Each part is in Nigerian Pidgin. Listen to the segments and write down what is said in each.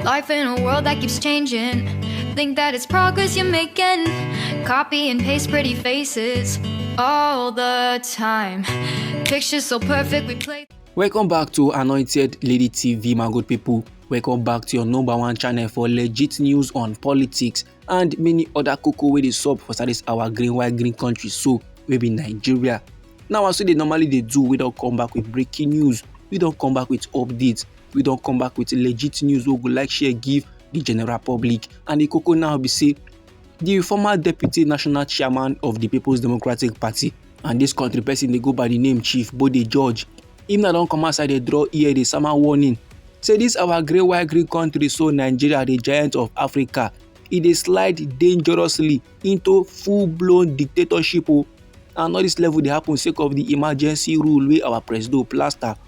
Life in a world that keeps changing. Think that it's progress you're making. Copy and paste pretty faces all the time. Pictures so perfect, we play. Welcome back to Anointed Lady TV, my good people. Welcome back to your number one channel for legit news on politics and many other cocoa wey dey sup for service our green white green country so wey be Nigeria. Now as we dey normally dey do, we don come back with breaking news, we don come back with updates we don come back with legit news wey we go like share give the general public and the koko now be say the former deputy national chairman of the people's democratic party and this country person dey go by the name chief bode george him now don come outside dey draw ear dey sama warning say this our grey white green country so nigeria the giant of africa e dey slide dangerously into full blown dictatorship o oh. and all this level dey happen sake of the emergency rule wey our presido plaster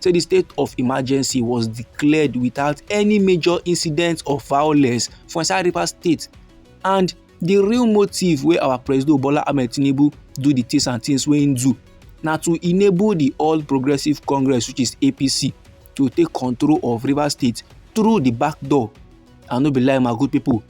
say di state of emergency was declared without any major incidents of violence for inside rivers state and di real motive wey our president bola ahmed tinubu do di things and things wey im do na to enable di all progressives congress which is apc to take control of rivers state through di back door and no be lie my good people.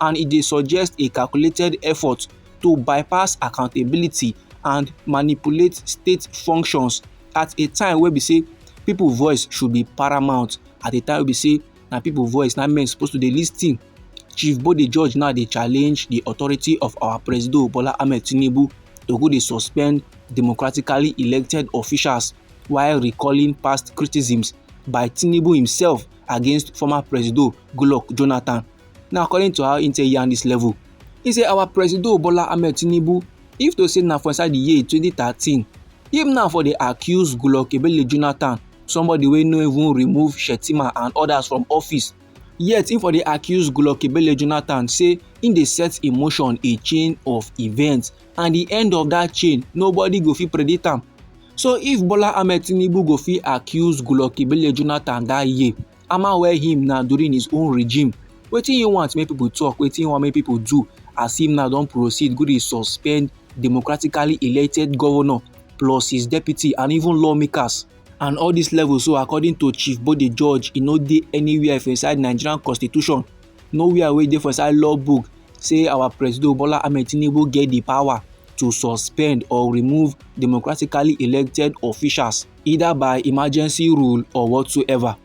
and e dey suggest a calculated effort to bypass accountability and manipulate state functions at a time wey be say people voice should be paramount at a time wey be say na people voice na men suppose to dey lis ten chief bode george now dey challenge the authority of our presido bola ahmed tinubu to go dey suspend democratically elected officials while recalling past criticisms by tinubu himself against former presido goodluck jonathan Now according to how he take yarn this level, he say our presido Bola Ahmed Tinubu, if to say na for inside the year 2013, him now for dey accuse Goodluck Ebele Jonathan, somebody wey no even remove Shetima and others from office, yet him for dey accuse Goodluck Ebele Jonathan say him dey set in motion a chain of events and the end of that chain nobody go fit predict am. So if Bola Ahmed Tinubu go fit accuse Goodluck Ebele Jonathan that year, Haman wear him now during his own regime wetin he want make people talk wetin he want make people do as him now don proceed go dey suspend democratically elected governor plus his deputy and even lawmakers and all these levels so according to chief bode george e no dey anywhere for inside nigerian constitution nowhere wey dey for inside law book say our president bola ahmed tinubu get the power to suspend or remove democratically elected officials either by emergency rule or whatsoever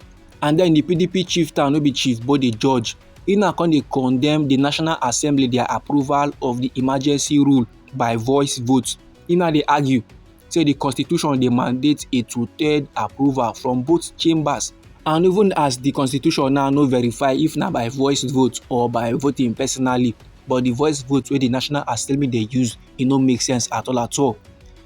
and then the pdp chief town no be chief but the judge he now come dey condemn the national assembly their approval of the emergency rule by voice vote he now dey argue say the constitution dey mandate a two-third approval from both chambers and even as the constitution now no verify if na by voice vote or by voting personally but the voice vote wey the national assembly dey use e no make sense at all at all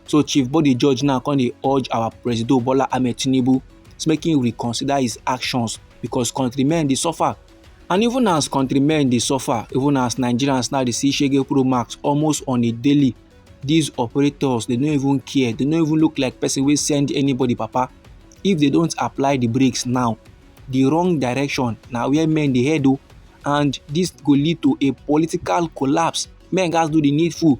So Chief Body Judge now come dey urge our Presido Bola Ahmed Tinubu to make him reconsider his actions because countrymen dey suffer. And even as countrymen dey suffer, even as Nigerians now dey see Shege Pro Max almost on a daily, these operators they no even care, they no even look like person wey send anybody papa. If they don't apply the brakes now, the wrong direction na where men dey head o oh, and this go lead to a political collapse. Men gats do the needful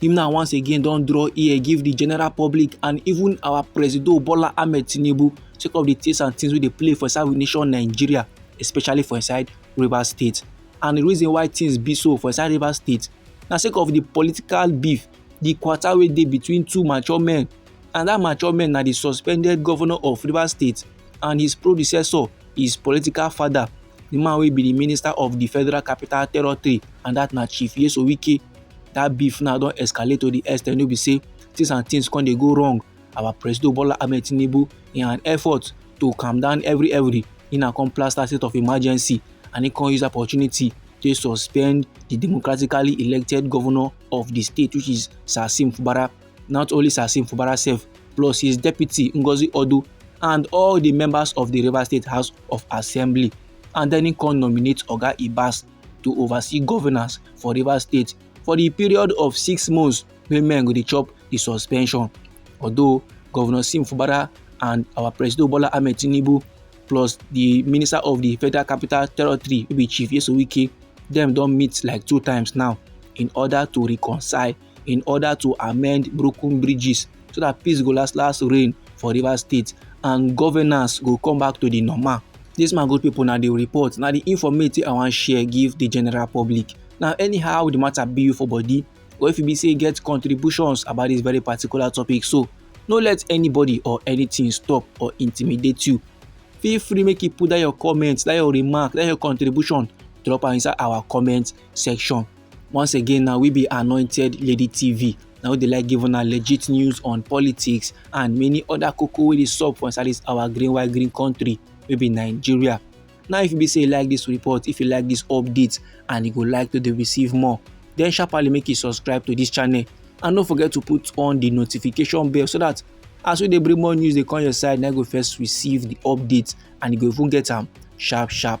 Im now once again don draw ear give the general public and even our presido Bola Ahmed Tinubu sake of the things and things wey dey play for inside nation Nigeria especially for inside Rivers State. And the reason why things be so for inside Rivers State na sake of the political beef, the quarter wey dey between two mature men and that mature men na the suspended governor of Rivers State and his predecessor, his political father, the man wey be the minister of the Federal Capital Territory and that na Chief Yeso Wike. that beef now don escalate to the extent wey be say things and things come dey go wrong our president bola ahmed tinubu in an effort to calm down every every he na come plaster state of emergency and he come use opportunity to suspend the democratically elected governor of the state which is sasim fubara not only sasim fubara sef plus his deputy ngozi odu and all the members of the river state house of assembly and then he come nominate oga ibas to oversee governance for rivers state for di period of six months wey men go dey chop di suspension although governor sim fubara and our president bola ahmed tinubu plus di minister of di federal capital territory wey be chief yeso wike dem don meet like two times now in order to reconcile in order to amend broken bridges so that peace go last last reign for rivers state and governance go come back to the normal this my good people na the report na the informate i wan share give the general public na anyhow the matter be you for body or if you be say get contributions about this very particular topic so no let anybody or anything stop or intimidate you feel free make you put that your comment that your remark that your contribution drop am inside our comment section Once again, now we be anointed lady TV. Now we dey like give una legit news on politics and many other koko wey dey sup for inside this our green white green country wey be Nigeria. Now if you be say you like this report, if you like this update and you go like to dey receive more, then sharply make you subscribe to this channel and no forget to put on the notification bell so that as we dey bring more news dey come your side, na you go first receive the update and you go even get am sharp sharp.